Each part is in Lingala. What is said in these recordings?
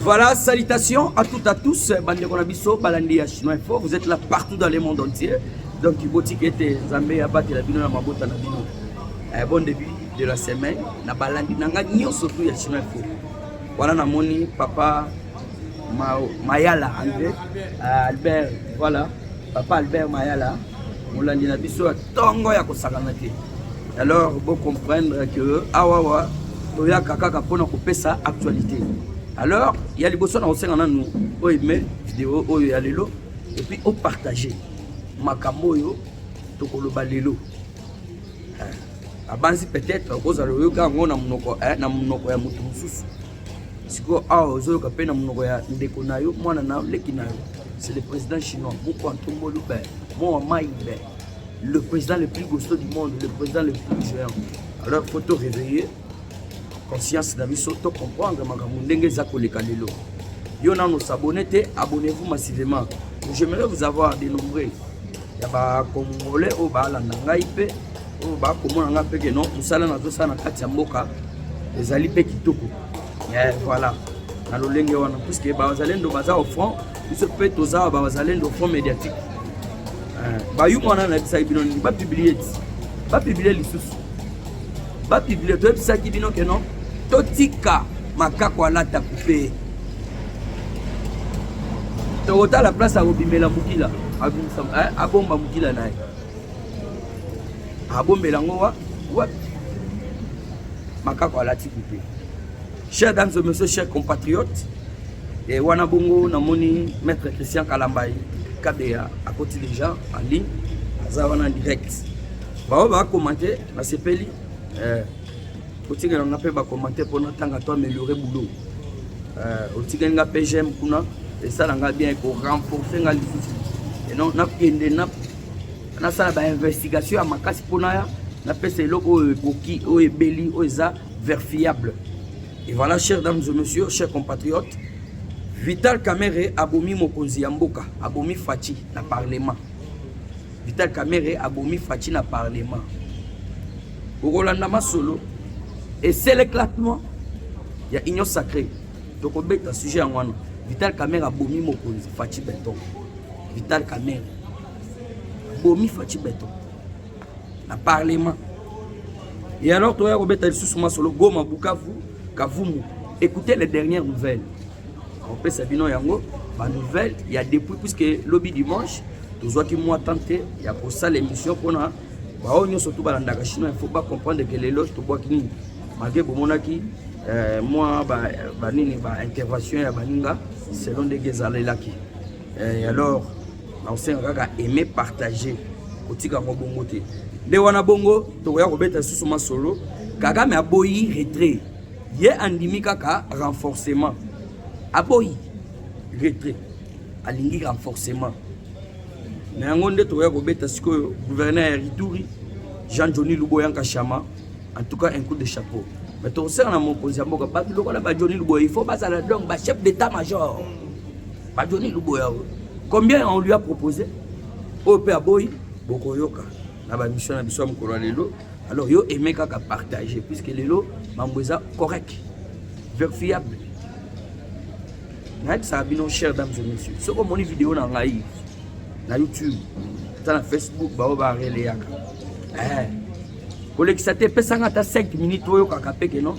Voilà, salutations à toutes, à tous. Bandeko na biso, balandi ya Chinois Info. Vous êtes là partout dans le monde entier. Donc, botiki ete Zambé ya bate la bino na mabota na bino. Eh, bon début de la semaine. Na balandi nanga nyoso tout ya Chinois Info. Voilà na moni papa Ma Mayala André euh, Albert. Voilà, papa Albert Mayala. Molandi na biso tongo ya kosakana te alors bo comprendre que awawa ah, toyaka kaka mpona kopesa actualité alors ya liboso na kosenga nanu oime video oyo ya lelo epuis opartage makambo oyo tokoloba lelo eh, abanzi peut-être okozala oyoka yango na monoko eh, na monoko ya moto mosusu sikoyo awa ah, ozoyoka mpe na monoko ya ndeko na yo mwana na yo leki na yo c'est le président chinois moko antomboli be mowa mai be le président le plus gosto du monde le président le plus géant alors faut to réveiller conscience na biso to comprendre makambo ndenge eza koleka lelo yo nano s'abonne te abonnez-vous massivement j'aimerais vous avoir de nombreux ya bacongolais oyo baalanda ngai mpe oyo bakomona ngai mpe ke non mosala nazosala na kati ya mboka ezali mpe kitoko eh, voilà na lolenge wana puiske bazalendo baza au front biso mpe toza bazalendo fond médiatique eh, bayuma wana nayebisaki bino nini bapiblie ti bapiblie lisusu bapiblie toyebisaki bino ke non totika makako alata kupe tokotala place akobimela mokila eh, abomba mokila na ye abombela yango wapi makako alati kupe Chers dames et messieurs, chers compatriotes, et wana bongo namoni maître Christian Kalambay Kabea akoti déjà en ligne aza wana direct baoyo bakomante nasepeli eh, otikela nga mpe bakomante mpo natanga to ameliore boulot eh, otikeli nga mpe j'aime kuna esala nga bien ekorenforce nga lisusu enon nakende nasala bainvestigation ya makasi mpo naya napesa eloko oyo ekoki oyo ebeli oyo eza vers fiable. Et voilà, chers dames et messieurs, chers compatriotes, Vital Kamerhe abomi mokonzi ya mboka, abomi Fatshi na parlement. Vital Kamerhe abomi Fatshi na parlement. Okolanda masolo et c'est l'éclatement ya union sacrée. Tokobeta sujet yango wana. Vital Kamerhe abomi mokonzi Fatshi Beton. Vital Kamerhe abomi Fatshi Beton. na parlement et alors toya kobeta lisusu masolo goma bukavu kavumu écoutez les dernières nouvelles opesa bino yango ba nouvelle ya depuis puisque lobi dimanche tozwaki mwa temps te ya kosala émission mpona baoyo nyonso tu balandaka chinois il faut ba comprendre que lelo tobwaki nini malgré bomonaki euh, mwa banini ba, ba intervention ya baninga selon ndenge ezalelaki euh, alors na kosenga kaka aime partage kotika yango bongo te nde wana bongo tokoya kobeta lisusu masolo kagame aboyi retrait ye andimi kaka renforcement aboyi retrait alingi renforcement na yango nde tokoya kobeta sikoyo gouverneur ya rituri jean johni luboyanka shama en tout cas un coup de chapeau mais tokosala na mokonzi ya mboka bato lokola ba johni luboya il faut bazala donc ba chef d'état major Ba Johnny Luboya oyo. Combien on lui a proposé? Oyo pe aboyi bokoyoka na ba mission na biso ya mokolo ya lelo. Alors yo aime kaka partager puisque lelo mambo eza correct. Verifiable. nayebisaka bino cher dames et monsieur soki omoni video na ngai na youtube ata na facebook bao bareleyaka eh. kolekisa te epesanga ata 5 minutes oyokaka peke non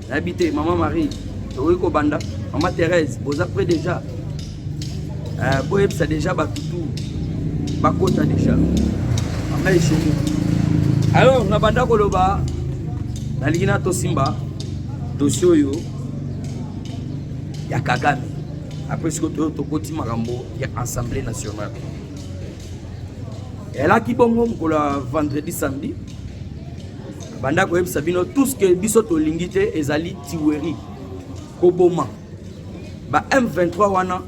nayebi te mama marie tokoki kobanda mama therese boza près déjà euh, boyebisa déjà bato tu bakota déjà mama eshenge alors nabanda koloba nalingi na tosimba dosie oyo ya kagame après sikoyo toyo tokoti makambo ya assemblée nationale elaki bongo mokolo ya vendredi samedi banda koyebisa bino tout ce que biso tolingi te ezali tiweri koboma ba m23 wana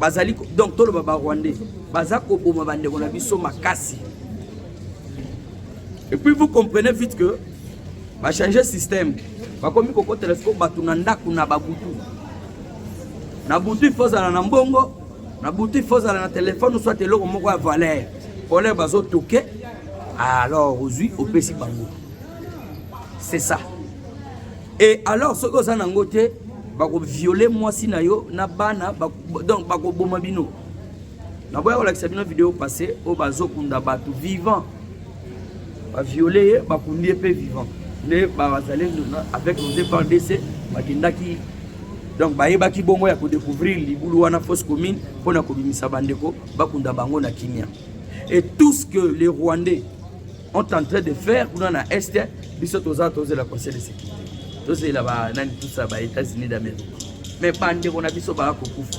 bazali donc toloba ba rwandais baza koboma bandeko na biso makasi et puis vous comprenez vite que bachange système bakomi kokotela siko bato na ndako na babutu na butu ifo ozala na mbongo na boutique faut ozala na telefone soit eloko moko ya valeur olere bazotoke alors ozwi opesi bango c'est ça et alors soki oza nango te bakoviole mwasi na yo na bana donc bakoboma bino naboya kolakisa bino video passé oyo bazokunda bato vivant ba viole ye bakundi ye mpe vivant nde bazalendo avec nos eprdc bakendaki donc bayebaki bongo ya kodécouvrir libulu wana fausse commune mpo na kobimisa bandeko bakunda bango na kimia et tout ce que les rwandais ont en train de faire kuna na est biso toza tozela conseil de sécurité tozela banani tusa ba états-unis d'amérique mais bandeko na biso baya kokufa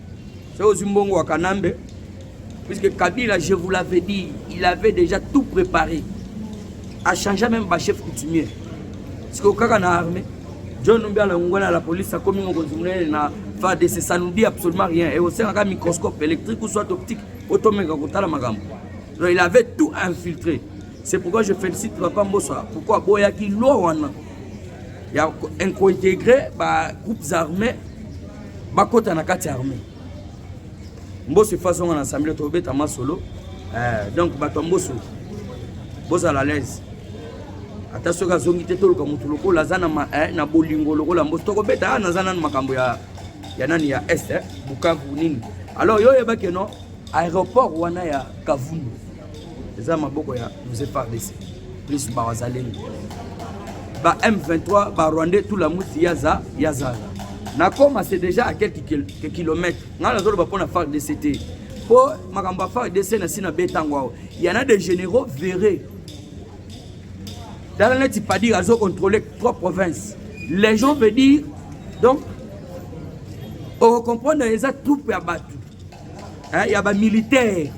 Soki ozwi mbongo wa Kanambe, puisque Kabila, je vous l'avais dit, il avait déjà tout préparé. A changé même ba chef coutumier. Siko kaka na armée, John Numbi alongwa na la police akomi mokonzi monene na FARDC, ça nous dit absolument rien. Et osengaka microscope électrique ou soit optique, otomeka kotala makambo. Donc il avait tout infiltré. C'est pourquoi je félicite Papa Mbosa. Pourquoi Boyaki loi wana ya incointégrer ba groupes armés bakota na kati ya armée mboso efa azonga na assemblée tobeta masolo eh, donc bato ya mboso bozala alaise ata soki azongi te toluka motu lokola aza na, eh, na bolingo lokola mboso tokobeta ah, naza nanu makambo ya, ya nani ya est eh, bukavu nini alors yo oyebaki no aéroport wana ya kavundu eza maboko ya mzee fardc plus bawazalendo ba m23 ba rwandais tout la muti yaza yazala nakoma c'est déjà à quelques kilomètres ngai nazoloba mpo na fardc te mpo makambo ya fardc na si na be ntango awa yana de généraux verre tala neti padir azo contrôle trois provinces les gens veut dire donc okokomprendre eza troupe ya bato eh, ya ba militaire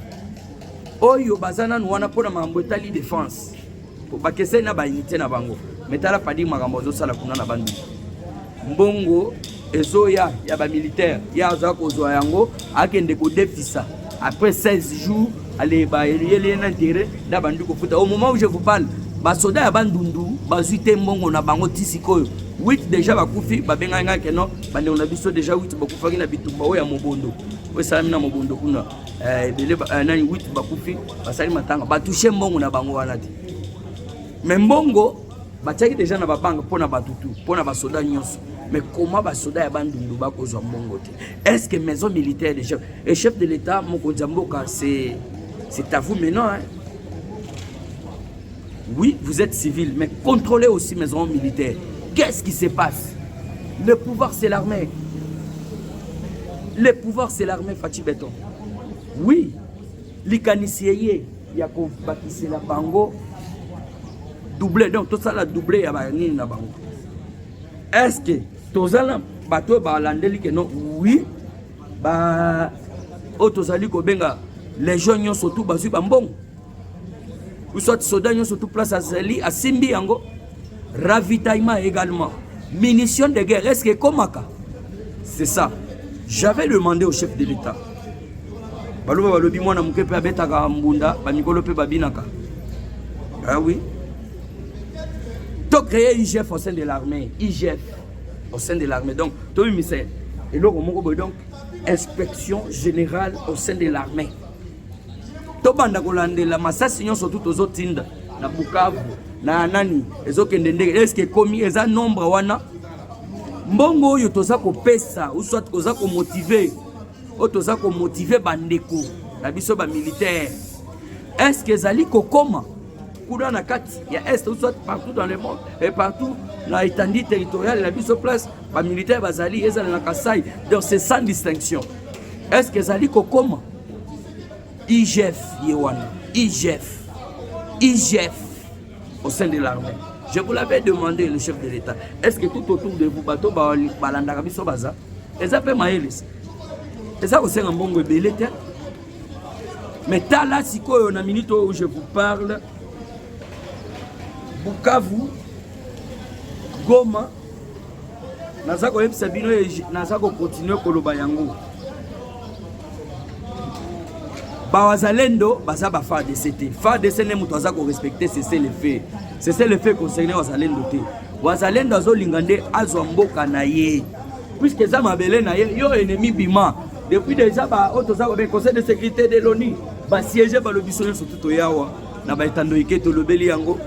oyo baza nanu wana mpo na makambo etali defense bakeseni na bainite na bango me tala padi makambo azosala kuna na bandu mbongo ezoya ya bamilitaire ye aza kozwa yango akende kodefisa après 16 jours aleba eliyeli ye na intere na bandi kofuta au moment où je vous parle basoda ya bandundu bazwi te mbongo na bango ti sikoyo 8 deja bakufi babengaki ngai keno bandeko na biso deja wit bakufaki na bitumba oyo ya mobondo oyo esalami na mobondo kuna eh, ebele eh, nani wit bakufi basali matanga batushe mbongo na bango wana te me mbongo batiaki deja na babanga mpo na bato tu mpo na basoda nyonso mais comment basoda ya bandundu bakozwa mbongo te est ce que maison militaire de chef et chef de l'état mokonzi ya mboka c'est à vous maintenant hein? Oui, vous êtes civil, mais contrôlez aussi mes hommes militaires. Qu'est-ce qui se passe Le pouvoir, c'est l'armée. Le pouvoir, c'est l'armée, Fatih Beton. Oui, likanisi eye ya kobakisela bango double donc tosala double ya banini na bango est ce que toza na bato oyo balandeli ke non oui ba oyo tozali kobenga legion nyonso tu bazwi bambongo ou soit soda nyonso tout place azali asimbi yango ravitaillement également munition de guerre est ce que ekomaka c'est ça j'avais demandé au chef de l'état baloba balobi mwana moke mpe abetaka mbunda bamikolo mpe babinaka ah oui tocreye igf au sein de l'armée igf au sein de l'armée donc tobimisa eloko moko boye donc inspection générale au sein de l'armée tobanda kolandela masasi nyonso tu tozotinda na bukavu na nani ezokende ndenge eske ekomi eza nombre wana mbongo oyo toza kopesa uswat koza komotive oyo toza komotive bandeko na biso bamilitaire eske ezali kokoma kuna na kati ya est uswat partout dans le monde et partout na etandi territoriale na biso place bamilitaire bazali ezala na kasai donc c'est sans distinction eske ezali kokoma IGF ye wana IGF IGF au sein de l'armée je vous l'avais demandé le chef de l'état est ce que tout autour de vous bato balandaka biso baza eza mpe mayelisi eza kosenga mbongo ebele te mais tala sikoyo na minute oyo je vous parle bukavu goma naza koyebisa bino naza kokontinue koloba yango bawazalendo baza ba fardc te fardc nde moto aza korespecte sese le fait sese le fait concerne wazalendo te wazalendo azolinga nde azwa mboka na ye puiske eza mabele na ye yo enemi bima depuis deja baoyo toza kobe conseil de sécurité de loni basiege balobi so nyonso tu toyawa na baetando ike tolobeli yango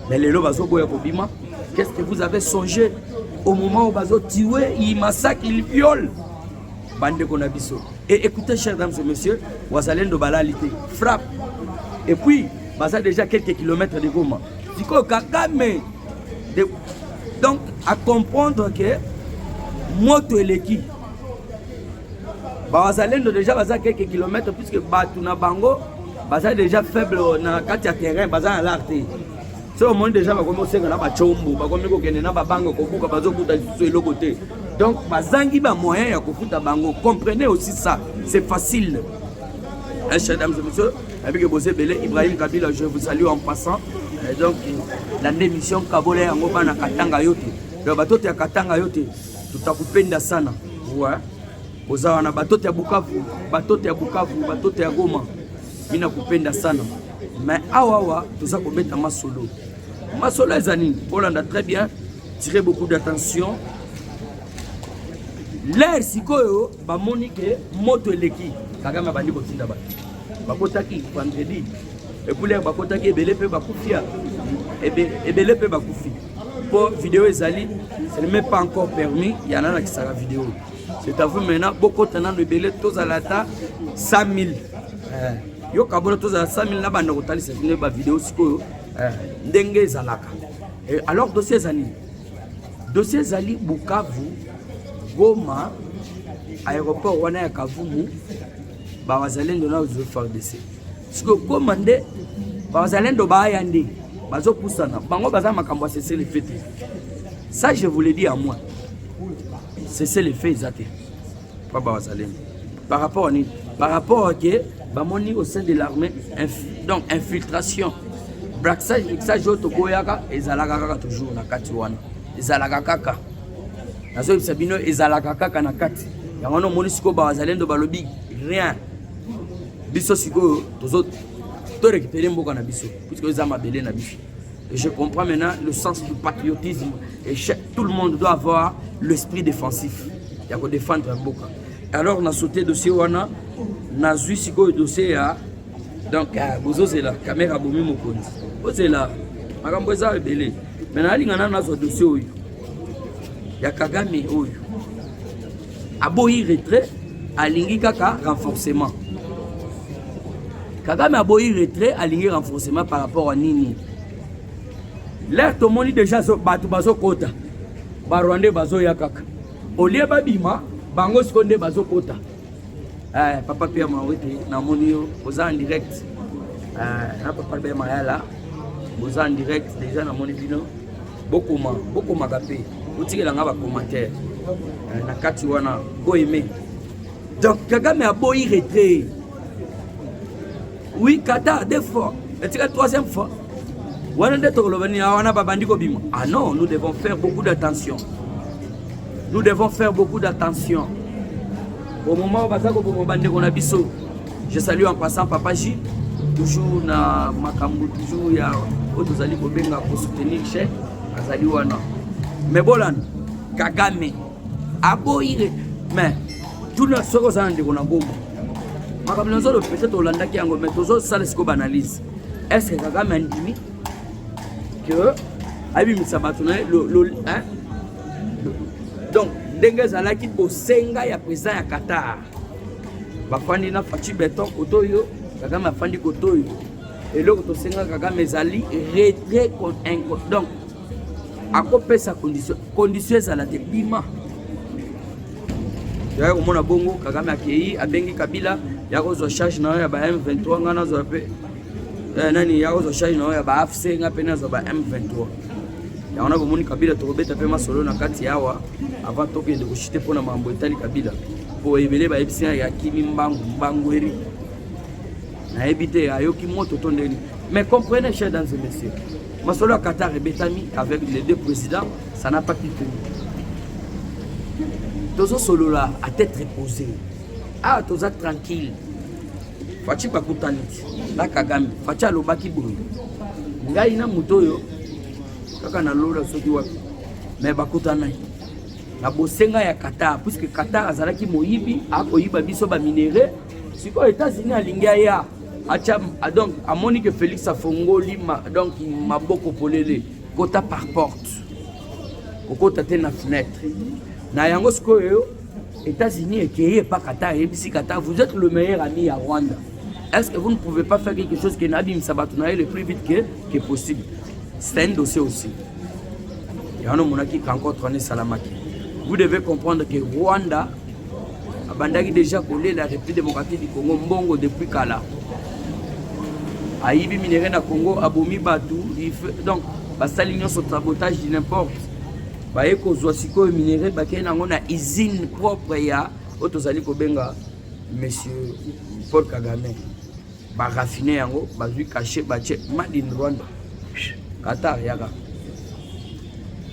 Mais lelo bazo boya kobima. Qu'est-ce que vous avez songé au moment où bazo tuer, il massacre, il viole bandeko na biso. Et écoutez chers dames et messieurs, wazalendo balali te. Frappe. Et puis baza déjà quelques kilomètres de Goma. Sikoyo Kagame de... donc à comprendre que moto eleki Bawazalendo deja baza quelques kilomètres puisque bato na bango baza deja faible na kati ya terrain baza na lar te soki omoni deja bakomi kosenga na bacombo bakomi kokende na babanga kobuka bazokuta lisusu eloko te donc bazangi bamoyen ya kofuta bango comprenez aussi ça c'est facile eh, chers dames et messieurs abike boza ebele ibrahim kabila je vous salue en passant eh, donc landa émission kabola yango bana katanga yo te donc bato te ya katanga yo te tutakupenda sana ouais. oza wana batote ya bukavu batote ya bukavu batote ya goma mina kupenda sana me awawa toza kobeta masolo masolo eza nini bolanda très bien tire beaucoup d'attention lere sikoyo bamoni ke moto eleki kagame abandi kotinda bato bakotaki vendredi epuler bakotaki ebele mpe bakufia ebele mpe bakufi mpo video ezali ce n'est même pas encore permis ya nalakisaka video c'est à vous maintenant bokota nano ebele tozala ata 100 000 eh, yoka bona tozala 100 000 na banda kotalisa bino bavideo sikoyo eh, ndenge ezalaka eh, alors dossier ezali dossier ezali bukavu goma aéroport wana ya kavumu bawazalendo na ozwi fardc sikoyo koma nde bazalendo baya nde bazopusana bango baza makambo ya sese lefe te ça je vous le dis à moi sese lefe eza te mpa bazalendo par rapport à nini par rapport ke bamoni au sein de l'armée donc infiltration braxage oyo tokoyaka ezalaka kaka toujours na kati wana ezalaka kaka nazoyebisa bino ezalaka kaka na kati yango wana omoni sikoyo bazalendo balobi rien biso sikoyo tozo to récupérer mboka na biso puisque eza mabele na biso je comprends maintenant le sens du patriotisme et chaque, tout le monde doit avoir l'esprit défensif ya ko défendre mboka alors na sauté dossier wana nazwi sikoyo dossier ya donc euh, bozozela kamera abomi mokonzi ozela makambo eza ebele me nalinga nano nazwa dossier oyo ya kagame oyo Aboyi retrait, alingi kaka renforcement. Kagame aboyi retrait, alingi renforcement par rapport à nini? L'air tomoni déjà bato bazokota barwandais bazoya kaka olie babima bango siko nde bazokota eh, papa pia mawete namoni yo oza en direct eh, na papa be mayala oza en direct déjà namoni bino bokoma bokomaka mpe botikela nga bacommentaire eh, na kati wana boyeme donc kagame aboyi retrait oui kata deux fois etika troisième fois wana nde tokoloba nini wana babandi kobima ah non nous devons faire beaucoup d'attention nous devons faire beaucoup d'attention au moment oyo baza koboma bandeko na biso Je salue en passant Papa J, toujours na makambo toujours ya oyo tozali kobenga ko soutenir chef azali wana. Mais bolana Kagame aboyi mais tuna soki oza na ndeko na goma makambo na nzolo peut-être olandaki yango mais tozosala sikoyo baanalyse est ce que kagame andimi que abimisa bato na ye donc ndenge ezalaki bosenga ya président ya qatar bafandi na faci beton koto oyo kagame afandi koto oyo eloko tosenga kagame ezali retrait donc akopesa condition condition ezala te bima yaya komona bongo kagame akei abengi kabila ya kozwa charge na yo ya ba m23 ngai nazwa mpe Eh, nani ya ozo charge na ya ba AFC nga pe nazo ba M23 yango na bomoni kabila tokobeta mpe masolo na kati yawa avant tokende koshite mpo na mambo etali kabila mpo ebele bayebisi ya kimi mbangu mbangu eri nayebi te ayoki moto to ndeni mais comprenez chers dames et messieurs masolo ya qatar ebetami avec les deux présidents ça n'a pas pu tenir tozosolola à tête reposée ah toza tranquille Fachi bakutani na Kagame, Fachi alobaki boye, ngai na moto oyo kaka na lola soki wapi, me bakutanaki na bosenga ya Qatar, puisque Qatar azalaki moyibi, akoyiba biso ba minerais. Sikoyo Etats-Unis alingi aya acha, donc amoni que Felix afongoli ma, donc maboko polele kota par porte, kokota te na fenêtre na yango sikoyo États-Unis ekeye epa Qatar ayebisi Qatar vous êtes le meilleur ami ya Rwanda est-ce que vous ne pouvez pas faire quelque chose que nabimisa bato na ye le plus vite que, que possible c'est un dossier aussi yango omonaki rencontre wana esalamaki vous devez comprendre que Rwanda abandaki déjà kolela République démocratique du Congo mbongo depuis kala ayibi minere na Congo abomi bato donc basali nyonso sabotage du n'importe baye kozwa sikoyo minerai bakei nango na usine propre ya oyo tozali kobenga monsieur paul kagame barafine yango bazwi kashe batie made in rwanda qatar yaka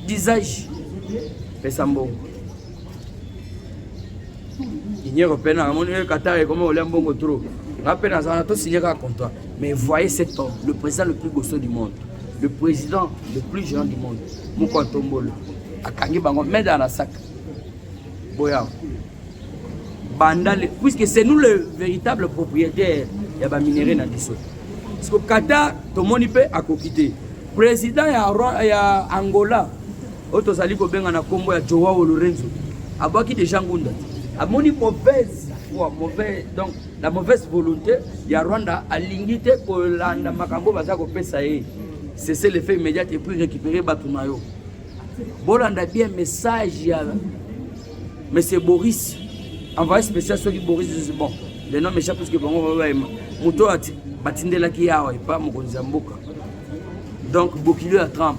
disage pesa mbongo Union européenne amoni ye Qatar ekoma olia mbongo trop nga mpe naza wana tosigne kaka contrat mais voyez cet homme le président le plus gosso du monde le président le plus géant du monde moko ya tombolo akangi bango meda na saka boya banda le puisque c'est nous le véritable propriétaire ya baminerai na biso parceke Qatar tomoni mpe akoki te président ya, ya angola oyo tozali kobenga na nkombo ya Joao Lorenzo abwaki deja ngunda amoni mauvaise foi mauvais donc la mauvaise volonté ya Rwanda alingi te kolanda makambo baza kopesa ye cessez le fait immédiat et puis récupérer bato na yo bolanda bien message ya monsieur Boris envoyé spécial soki Boris bon le nom méchant puisque bango bayema moto batindelaki ye awa epa mokonzi ya mboka donc bokilo ya Trump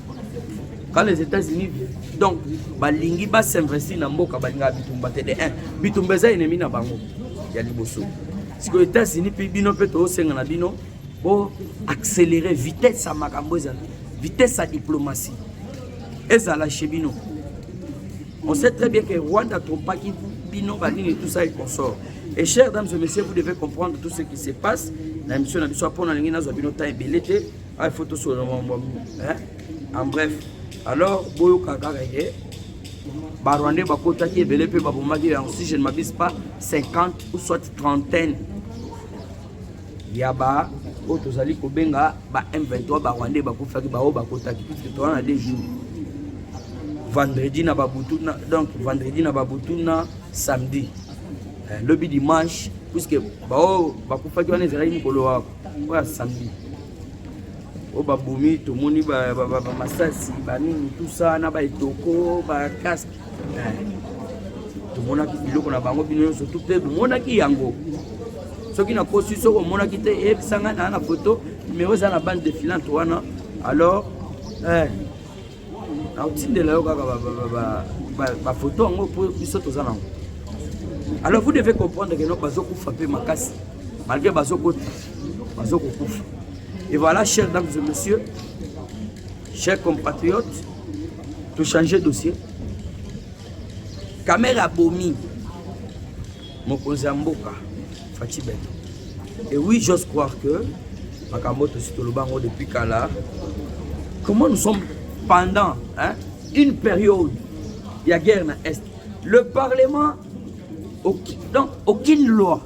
quand les États-Unis donc balingi ba s'investir na mboka balinga bitumba te de 1 bitumba eza ennemi na bango ya liboso sikoyo États-Unis mpe bino mpe tosenga na bino bo accélérer vitesse ya makambo ezala vitesse ya diplomatie ezala chez bino on sait très bien que Rwanda trompaki bino banini tout ça et consort et chers dames et messieurs vous devez comprendre tout ce qui se passe na émission na biso mpo na ndenge nazwa bino temps ebele te Ah, il faut tout sur le moment. Hein? En bref, alors, Boyo Kakarege, Barwande Bakota qui est belé, puis Babomadi, si je ne m'abuse pas, 50 ou soit trentaine. Yaba, oyo tozali kobenga ba m23 barwandais bakufaki baoyo bakotaki puiske toza na deux jours vendredi na babutu na donc vendredi na babutu na samedi eh, lobi dimanche puiske baoyo bakufaki wana ezalaki mokolo wa oyo asambi oyo babomi tomoni bamasasi banini tusa na baetoko bakaske tomonaki biloko na bango bino nyonso tu mpe bomonaki yango soki nakosi soki omonaki te eyebisa ngai naa na foto numero eza na bande defilante wana alors eh, nakotindela yo kaka bafoto yango mpo biso toza nango alors vous devez comprendre que non bazokufa mpe makasi malgré bazokota bazokokufa et voilà chers dames et messieurs chers compatriotes tochange dossier kamere abomi Mokonzi ya mboka Fatshi Beton. Et oui, j'ose croire que makambo tosi toloba yango depuis kala. Comment nous sommes pendant hein, une période il y a guerre na est. Le parlement aucune, donc aucune loi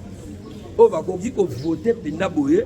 oyo bakoki kovote mpenza boye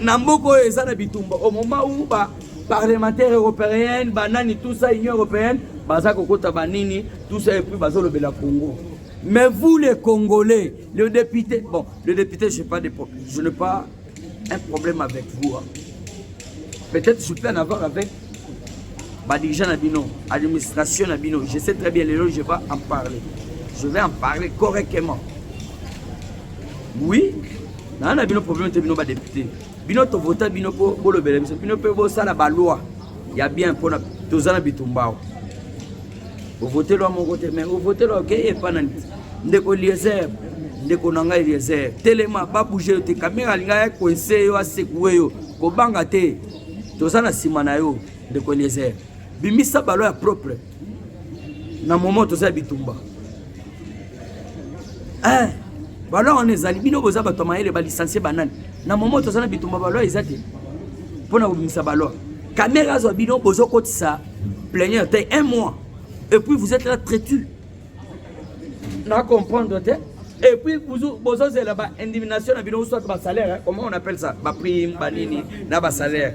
na mboka oyo eza na bitumba au moment où ba parlementaire européenne banani tout ça union européenne baza kokota banini tout ça epuis bazolobela congo mais vous les congolais le député bon le député je pas de problème je n'ai pas un problème avec vous hein. peut-être je peux en avoir avec badirigeant na bino administration na bino je sais très bien lelo je vais en parler je vais en parler correctement oui naa na bino problème te bino badepute bino tovota bino mpo bolobela biso bino mpe bosala baloi ya bien mpona toza na bitumbao ovotelwa moko te mai ovotelwa okei epa na ndeko eliezer ndeko na ngai eliezer telema babouge yo te kamera alinga ya koinse yo asekue yo kobanga te toza na nsima na yo ndeko eliezer bimisa baloi ya propre na moment toza ya bitumba eh, balwa wana ezali bino boza bato ya mayele balisansie banani na moment toza na bitumba balwa eza te mpo na kobimisa balwa kamere azwa bino bozokotisa plenière te un mois et puis vous êtes là traitu na comprendre te et puis bozozela ba indimination na bino soit ba salaire comment on appelle ça ba prime ba nini na ba salaire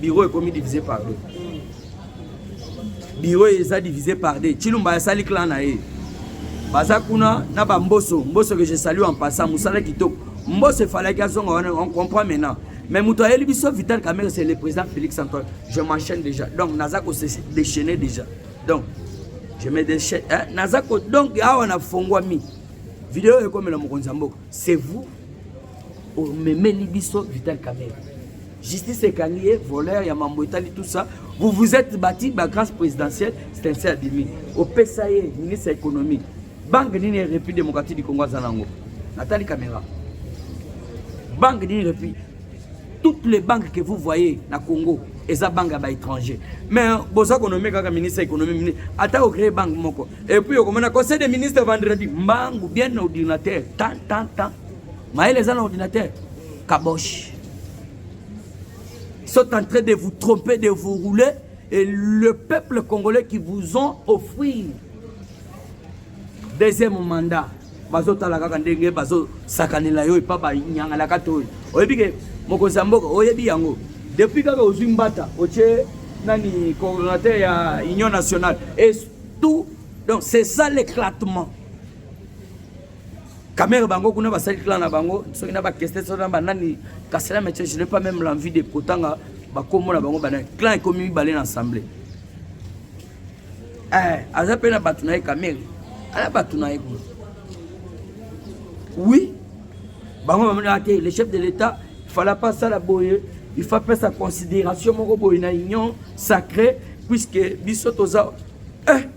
bureau ekomi divise par deux bureau eza divise par deux chilumba asali clan na ye baza kuna na bamboso mboso que je salue en passant mosala kitoko mboso efalaki azonga wana on comprend maintenant mais moto ayeli biso vital camere c'est le président félix antoine je m'enchaîne déjà donc naza ko se déchaîner déjà donc je me déchaîne hein? naza ko donc awa nafongwami video ekomela mokonzi ya mboka c'est vous omemeli biso vital camere Justice ekangi ye voleur ya mambo etali tout ça. Vous vous êtes bâti ba grâce présidentielle, c'est ainsi abimi. Opesa ye ministre ya économie. Banque nini République démocratique du Congo aza nango? Natali caméra. Banque nini République toutes les banques que vous voyez na Congo eza banque ya ba étranger mais boza konomie kaka ministre ya économie ata ocree banque moko et puis okomona conseil des ministres vendredi mbangu bien ordinateur tant tant tant Mayele eza na ordinateur kabosh sont en train de vous tromper, de vous rouler, et le peuple congolais qui vous ont offert deuxième mandat bazotala kaka ndenge bazosakanela yo epa banyangalaka to oyo oyebi ke mokonzi ya mboka oyebi yango depuis kaka ozwi mbata otie nani coordonnateur ya union nationale et tout donc c'est ça l'éclatement Kamere bango kuna basali clan na bango soki na bakeste soki na banani kasi na metier je n'ai pas même l'envie de kotanga bakombo na bango banani clan ekomi mibale na assemblée eh, aza mpe na bato na ye kamere ala bato na ye kuna oui bango bamonaka te le chef de l'état fala mpe asala boye il faut apesa considération moko boye na union sacré puisque biso toza eh.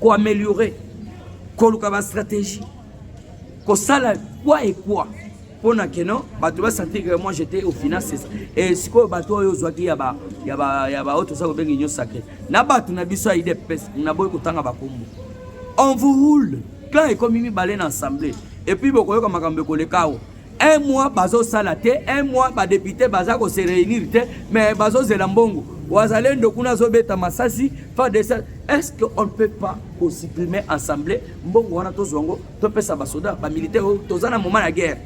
ko améliorer koluka ba stratégie kosala quoi et quoi mpo na keno bato basentir que moi j'étais au final c'est ça e sikoyo bato oyo ozwaki ya ba ya ba ya ba oyo toza kobenga union sacré na bato na biso ya idps naboyi kotanga bakombo on vous roule clan ekomi mibale na assemblée epuis bokoyoka makambo ekoleka awa un mois bazosala te un mois badepute baza kose réunir te mais bazozela mbongo wazalendo kuna azobeta masasi fadc est ce que on ne peut pas kosupprime assemblée mbongo wana tozwa yango topesa basoda bamilitaire oyo toza na moment ya guerre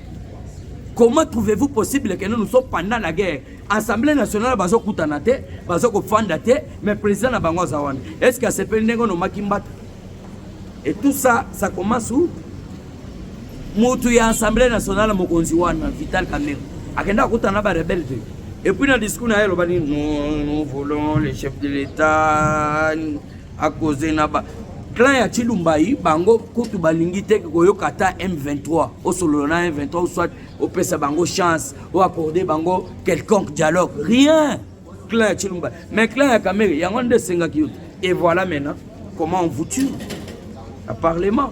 comment trouvez-vous possible que nous nous sommes pendant la guerre assemblée nationale bazokutana te bazokofanda te mais président na bango aza wana est ce que asepeli ndenge onomaki mbata Et tout ça, ça commence où? Mutu ya Assemblée nationale mokonzi wana Vital Kamerhe akenda akutana ba rebelle te. Et puis na discours na ye loba ni nous, nous voulons le chef de l'État à causer na ba clan ya Chilumbayi bango kutu balingi te koyoka ata M23 osolola na M23 ou soit opesa bango chance ou accorder bango quelconque dialogue rien clan ya Chilumba mais clan ya Kamere yango nde esengaki yo et voilà maintenant comment on vous tue à parlement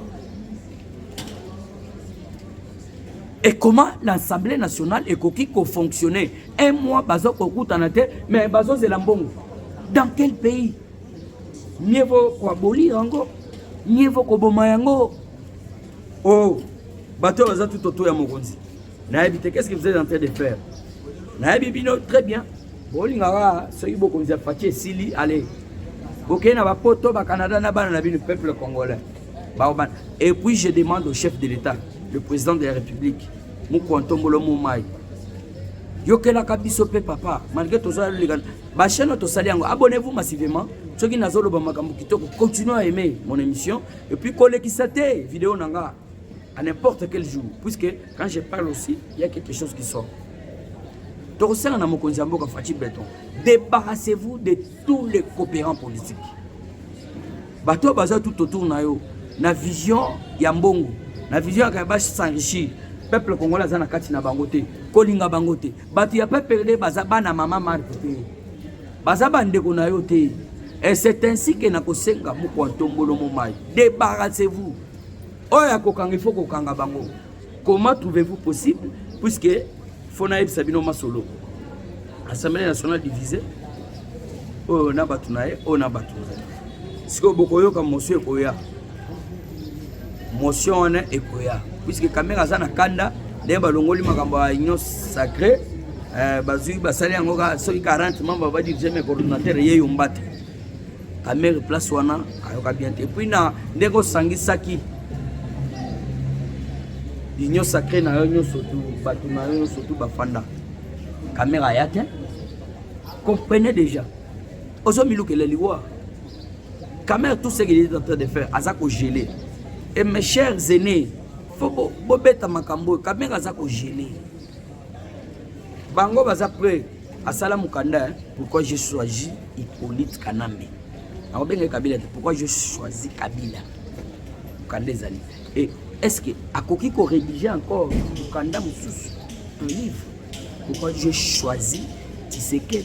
et comment l'assemblée nationale ekoki kofonctionner un mois bazo kokutana te mais bazozela mbongo dans quel pays mieux vaut koaboli yango mieux vaut koboma yango o oh, bato oyo baza tutoto ya mokonzi nayebi te qu'est-ce que vous êtes en train de faire nayebi bino très bien bolingaka soki bokonzi ya faci esili ale bokei na bapoto bacanada na bana na bino peuple congolais baobana et puis je demande au chef de l'état le président de la république mokwantombolo momai yokelaka biso mpe papa malgré tozala loleka bachaine tosali yango abonnez-vous massivement soki nazoloba makambo kitoko continue à aimer mon émission et puis kolekisa te video na nga à n'importe quel jour puisque quand je parle aussi il y a quelque chose qui sort tokosala na mokonzi ya mboka faci beton débarrassez-vous de tous les coopérants politiques bato oyo baza tout autour na yo na vision ya mbongo na vision yaka ya ba s'enrichir peuple congolais aza na kati na bango te kolinga bango te bato ya peuple nde baza bana mama marke te baza bandeko na yo te et c'est ainsi que nakosenga mokwa ntombolo momai débarrassez-vous oyo ya kokanga il faut kokanga bango comment trouvez-vous possible puisque fo nayebisa bino masolo assemblée nationale divise oyo na bato na ye oyo na bato na ye sikoyo bokoyoka motion ekoya motion wana ekoya puisque kamere aza na kanda ndenge balongoli makambo ya union sacré eh, bazwi basali yango soki 40 membre badirige me coordonnateur ye yomba te Kamere place wana ayoka bien te. Puis na ndenge osangisaki union sacrée na yo nyonso tu bato na yo nyonso tu bafanda kamera aya te comprenez déjà ozomilukela liwa kamera tout ce qu'il est en train de faire aza kogele et mes chers aînés fo bobeta makambo oyo kamera aza kogele bango baza près asala mukanda hein? pourquoi je choisi Hippolyte Kanambe nakobenga Kabila te pourquoi je choisi Kabila mukanda ezali et est-ce que akoki ko rédiger encore mukanda mosusu un livre pourquoi je choisi Tshisekedi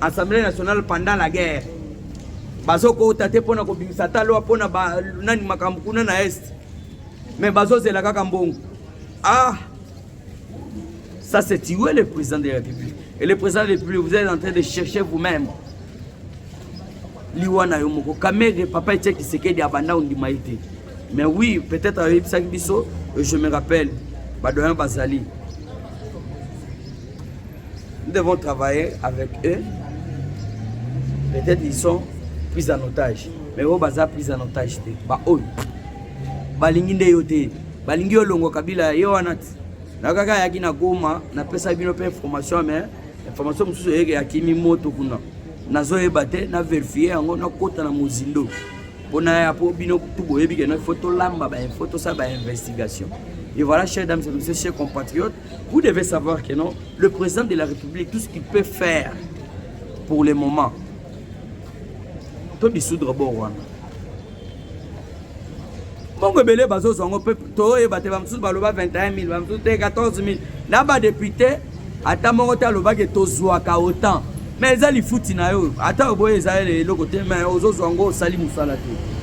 Assemblée nationale pendant la guerre bazokota te mpo na kobimisa ata lwa mpo na nani makambo kuna na est me bazozela kaka mbongo ah ça c'est tuer le président de la république et le président de la république vous êtes en train de chercher vous-même liwa na yo moko kamere papa etie kisekedi abanda ondima ye te mais oui peut-être ayebisaki biso je me rappelle badoyen bazali Nous devons travailler avec eux. Peut-être ils sont pris en otage. Mais oyo baza pris en otage te. Ba oyo. Balingi nde yo te. Balingi yo longo kabila ye wana ti. Na kaka yaki na Goma, na pesa bino pe information mais information mosusu yeke ya kimi moto kuna. Nazoyeba te, na vérifier yango na kota na mozindo. Pona ya po bino tout boyebi que na faut tolamba ba info, tosala ba investigation. Et voilà, chers dames et messieurs, chers compatriotes, Vous devez savoir que non, le président de la République, tout ce qu'il peut faire pour le moment, to dissoudre bo wana. Bongo ebele bazozwa yango mpe toyeba te bamosusu baloba 21 000 bamosusu te 14 000 na badepute ata moko te alobaki tozwaka otan Mais eza lifuti na yo ata oboye eza eloko te mais ozozwa ngo osali mosala te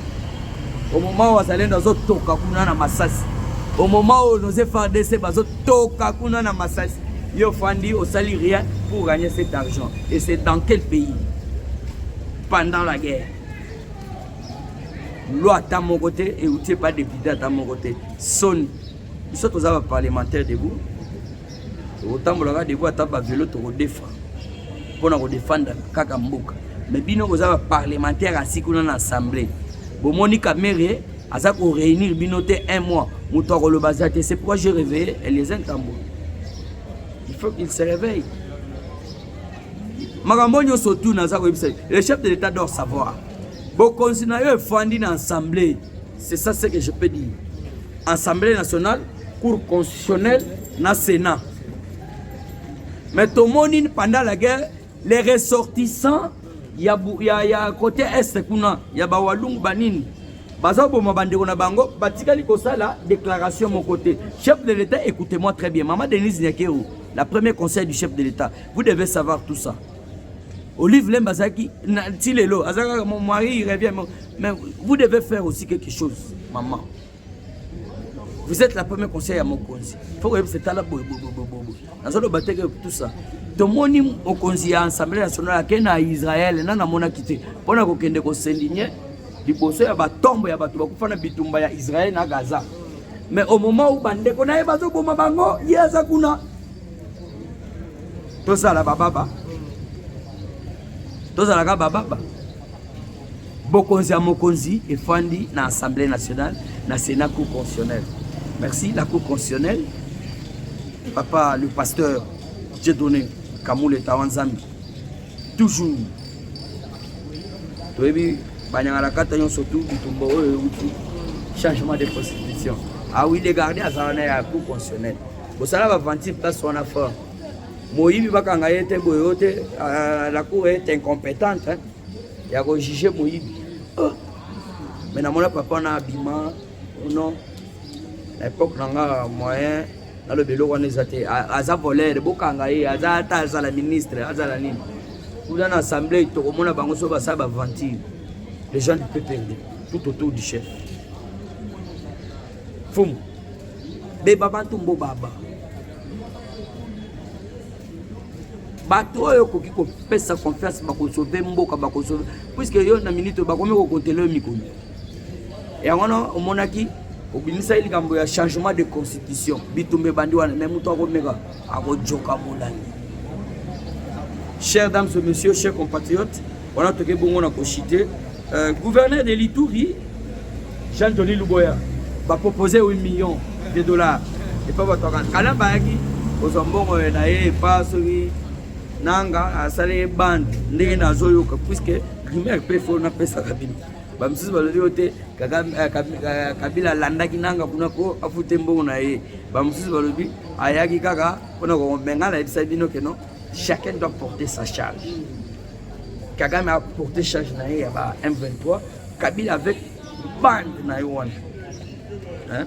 au moment oyo azalendo azotoka kuna na masasi au moment oyo nos FARDC bazotoka kuna na masasi yo ofandi osali rien pour gagner cet argent et c'est dans quel pays pendant la guerre loi ata moko te euti epa depute ata moko te soni biso toza baparlementaire debout tokotambolaka debout ata bavelo tokodefa mpo na kodefendre kaka mboka me bino boza baparlementaire asi kuna na assemblée bomoni kamere aza koreunir bino te un mois moto akoloba aza te c'est pourquoi je réveille eliezer ntambo il faut qu'il se réveille makambo nyonso tuna aza koyebisa le chef de l'état dor savoir bokonzi na yo efandi na assemblée C'est ça ce que je peux dire. Assemblée nationale, Cour constitutionnelle, na Sénat. Mais tomoni pendant la guerre, les ressortissants ya, ya, ya côté est kuna ya bawalungu banini bazoboma bandeko na bango batikali kosala déclaration moko te chef de l'état écoutez-moi très bien mama denise nyakero la premier conseil du chef de l'état vous devez savoir tout ça Olive Lemba azalaki na ti lelo azalaki kaka mon mari il revient mais vous devez faire aussi quelque chose maman vous êtes la première conseil ya mokonzi fo koyebisa etala boyeboyeboyeboy nazoloba te ke tout ça tomoni mokonzi ya assemblée nationale ake na israel na namonaki te mpo na kokende kosendigne liboso ya batombo ya bato bakufa na bitumba ya israel na gaza mais au moment où bandeko na ye bazoboma bango ye aza kuna tozala bababa tozalaka bababa bokonzi ya mokonzi efandi na assemblée nationale na sénat cour constitutionnelle merci la cour constitutionnelle papa le pasteur dieu donné kamule tawa nzambi toujours toyebi banyangalakata nyonso tu bitumba oyo euti changement de constitution awi ah legarde azala na ya cour constitutionnelle bosala baventure place wana fort moyibi bakanga ye te boye yo te euh, la cour est incompétente ya kojuge moyibi oh. mais namona papa wana abima oh non na époque na nga moyen naloba eloko wana eza te aza volere bokanga ye aza ata azala ministre azala nini kuna na assemblée tokomona bango so basala baventure les gens du peuple tout autour du chef Fum. Beba bantu mbo baba. bato oyo okoki kopesa confiance bakosove mboka bakosove puiske yo na minute bakomi kokontele yo mikolo yango wana omonaki obimisaki likambo ya changement de constitution bitumba ebandi wana me moto akomeka akojoka molai cher dames et messieurs cher compatriote Wana toke bongo na koshite euh, gouverneur de l'Ituri Jean Johnny Luboya ba proposer 8 millions de dollars et pas bato kala bayaki kozwa mbongo na ye epa soki nanga asali ye bande ndenge nazoyoka puisque primaire mpe fo napesaka bino bamisusu balobi yo te eh, eh, kabila alandaki nanga kuna mpo afute mbongo na ye bamisusu balobi ayaki kaka mpona komenga nayebisa bino keno Chacun doit porter sa charge. Kagame a porté charge na ye ya ba M23, Kabila avec bande na yo wana. Hein?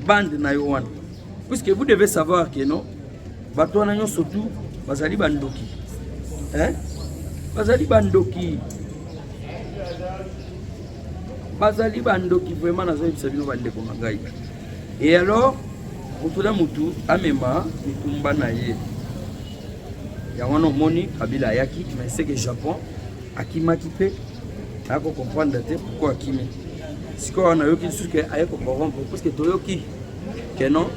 Bande na yo wana. Puisque vous devez savoir que non, bato wana nyonso tu bazali bandoki. Hein? Bazali bandoki. Bazali bandoki vraiment nazoyebisa bino bandeko na ngai. Et alors motu na motu amema mikumba na ye yango wana omoni kabila ayaki mais seke japon akimaki mpe ayako comprendre te pourkoi akimi sikoyo wana ayoki lisusu ke aye kocorrompre parce que toyoki ke non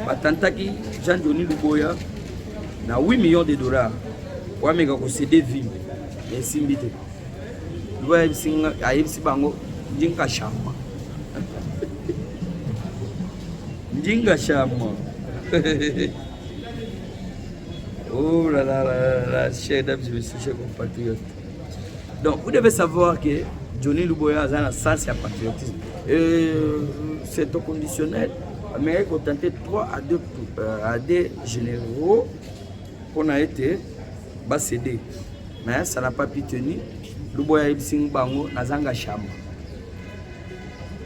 batantaki jean doni luboya na 8 millions de dollars po ameka kosede vile esimbi te Luba ayebisi bango ndinga shama ndinga shama oh là là là là chers dames et messieurs chers compatriotes donc vous devez savoir que Johnny Luboya aza na sens ya patriotisme euh, c'est au conditionnel amekaki kotente 3 à 2 euh, à 2 généraux mpo na ete basede Mais ça n'a pas pu tenir. Luboya ayebisi ngai bango nazanga shamba.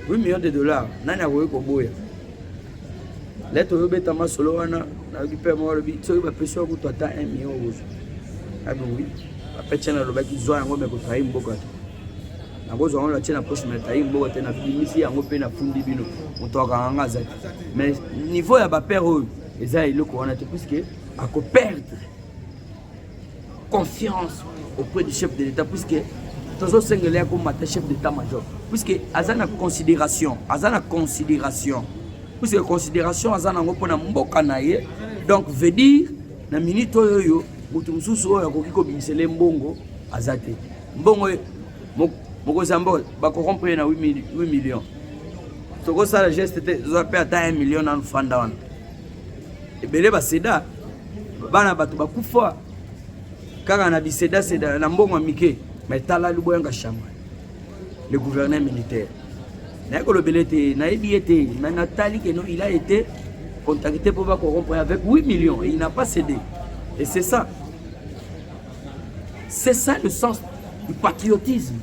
8 millions de dollars nani akoki koboya? Leta oyobeta masolo wana nayoki mpe moko alobi soki bapesi yo kutu ata 1 million okozwa. Abi oui. Apetya nalobaki zwa yango me kotrahi mboka te. nakozwa yango natie na poche me tayi mboka te nabimisi yango mpe nafundi bino moto akanga nga aza te mais niveau ya bapere oyo eza eloko wana te puiske akoperdre confiance auprès du chef de l'État puisque tozosengela ya komata chef d'état major puisque aza na considération aza na considération puisque considération aza nango mpo na mboka na ye donc veut dire na minute oyo oyo moto mosusu oyo akoki kobimisela ye mbongo aza te mbongo mokonzi ya mboka bakorompre ye na 8 million tokosala geste te zwa mpe ata 1 million nanu fanda wana ebele baseda bana bato bakufa kaka na bisedaseda na mbongo ya mike ma etala liboyanga shama le gouverneur militaire naye kolobela ete nayebi ye te ma natali keno il a été contacté mpo bakorompre avec 8 millions et il n'a pas cédé et c'est ça c'est ça le sens du patriotisme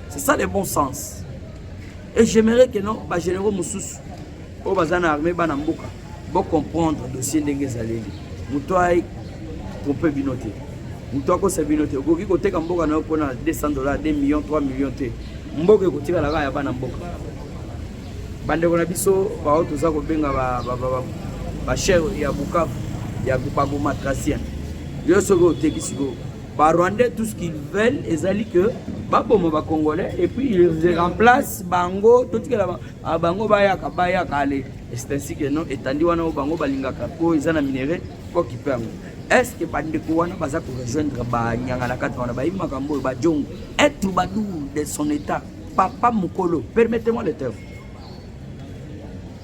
c'est ça le bon sens et j'aimerais que non bagénéraux mosusu oyo baza na armée bana mboka bo comprendre dossier ndenge ezaleli moto ai trompe bino te moto akosa bino te okoki koteka mboka na yo mpo na 200 dollars 2 millions 3 millions te mboka ekotikala kaka ya bana mboka bandeko na biso baoyo toza kobenga bachere ya bukavu ya bagoma tracien yo soki oteki sikoyo barwandais tout ce qu'ils veulent ezali que baboma bacongolais et puis ils remplacent bango totikela Ah, bango bayaka bayaka ale c'est ainsi que non etandi wana oyo bango balingaka po eza na minerai kokipe yango estce bandeko wana baza korejoindre banyanga na kati wana bayebi makambo oyo bajongo être badour de son état papa mokolo permettez moi le terme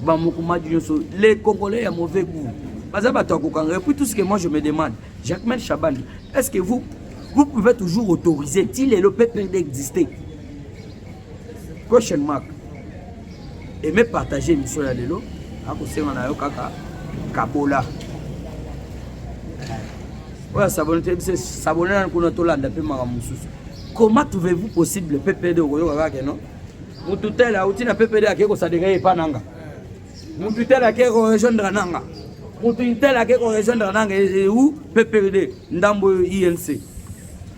bamokumadi nyonso les congolais ya mauvais goût baza bato ya kokanga epuis tout ce que moi je me demande jacquemain chaban est ce que vous vous pouvez toujours autoriser ti lelo pprd exister Question mark. Aimez partager émission ya lelo akosenga na yo kaka kabola eh. oyo asabone te bise sabone nani kuna tolanda mpe makambo mosusu comment trouvez-vous possible ppd okoyoka kaka no mutu tele auti na ppd akei kosadeka ye epa nanga mutu tele akei korejoindre nanga mutu tele akei korejoindre nanga eu ppd ndambo inc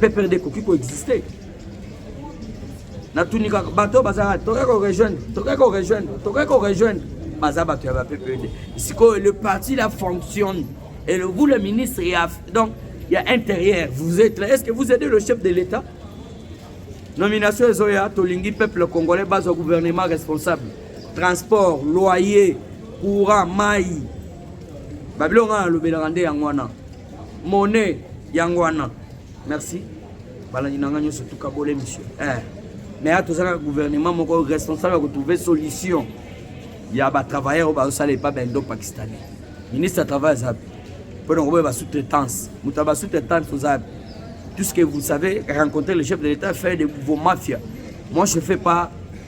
PPRD ekoki ko exister natuni kaka bato bazalaka tokoki ko rejoindre tokoki ko rejoindre tokoki ko rejoindre baza bato ya ba PPRD sikoyo le parti la fonctionne et le, vous le ministre ya donc ya intérieur vous êtes là est-ce que vous aidez le chef de l'État nomination ezoya tolingi peuple congolais bazwa gouvernement responsable transport loyer courant mai babiloko ngai nalobelaka nde yango wana mone yango wana merci balandi na ngai nyonso tuka bole misio eh. mais ato ozalaka gouvernement moko responsable ya kotrouve solution ya batravailleur oyo bazosala epa baindo pakistanais ministre ya travail aza mpe mpo na koboya basous-traitance moto ya basous-traitance oza mpe tout ce que vous savez rencontrer le chef de l'état faire de vos mafias moi je fais pas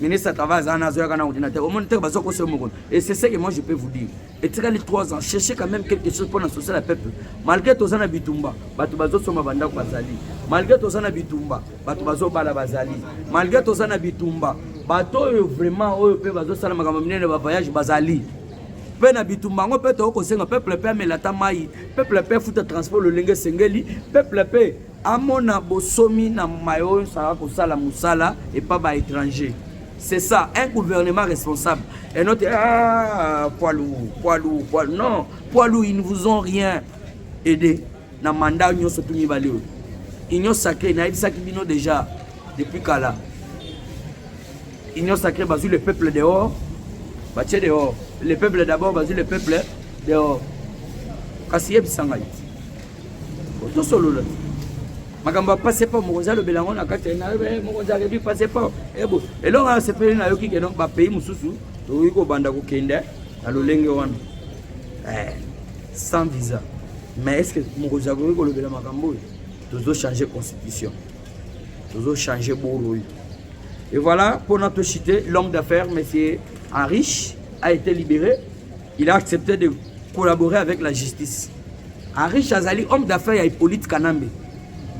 ministre kava aza na azoyaka na ordinateur omoni teke baza kosa moko et c'est ce que moi je peux vous dire etikali 3 ans chercher quand même quelque chose mpona social ya peuple malgré toza na bitumba bato bazosomba bandako bazali malgré toza na bitumba bato bazobala bazali malgré toza na bitumba bato oyo vraiment oyo mpe bazosala makambo minene bavoyage bazali mpe na bitumba yango mpe tokoki kosenga peuple mpe amela ata mai peuple mpe afuta transport lolenge esengeli peuple mpe Amona bosomi na maye oyo osala kosala mosala epa ba étranger c'est ça un gouvernement responsable et notre ah, poids lourd poids lourd poids non poids lourd ils ne vous ont rien aidé na mandat nyonso tu mibale oyo union sacrée nayebisaki bino déjà depuis kala union sacrée bazwi le peuple dehors batie dehors le peuple d'abord bazwi le peuple dehors kasi yebisa ngai tosolola makambo ya pasepo mokonzi alobela yango na kati nayobi eh, mokonzi alobi pasepo ebo eh, eloko ya sepeli nayoki keno bapays mosusu tokoki kobanda kokende na lolenge wana eh, sans visa mais est ce que mokonzi akoki kolobela makambo oyo tozochange constitution tozochange boro oyo et voilà mpona tochite l'homme d'affaires monsieur henrich a été libéré Il a accepté de collaborer avec la justice. Arish azali homme d'affaires ya Hippolyte Kanambe.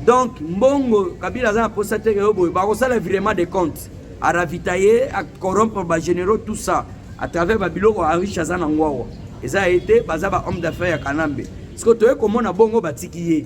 Donc mbongo Kabila aza na posa te yo boye bakosala virement de compte à ravitailler, à corrompre ba généraux tout ça à travers ba biloko Arish aza na ngwawa. Eza été baza ba homme d'affaires ya Kanambe. Siko toye komona bongo batiki ye.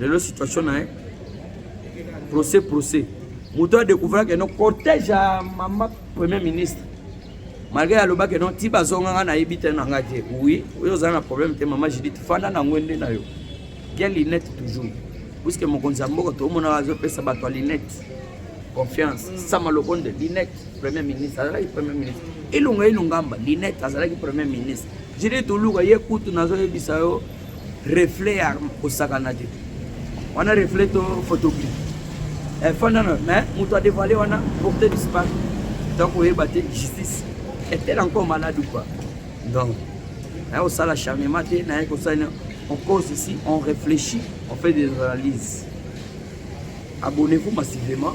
lelo situation na ye procès procès moto adecouvra ke no cortège ya mama premier ministre malgré alobaki no ti bazonga nga nayebi te na nga te oui oyo ozala na problème te mama judith fanda na ngwe nde na yo kia linete toujours puiske mokonzi ya mboka tomonaka azopesa bato ya linete confiance sama lokonde linete premier ministre azalaki premier ministre ilunga ilungamba linete azalaki premier ministre judith oluka ye kutu nazoyebisa yo reflet ya kosakana te wana reflet to photogri eh, fanda na mais moto adevoile wana porte disparu donc oyeba te justice etel encore malade ou quoi donc naye kosala charnement te naye kosala on cause ici on réfléchit on fait des analyses abonnez-vous massivement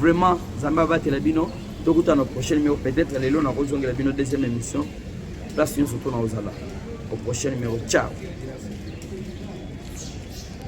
Vraiment, Zamba batela bino. Tokuta na prochain numéro peut-être lelo na kozongela bino deuxième émission. Place nyonso to na ozala. Au prochain numéro. Ciao.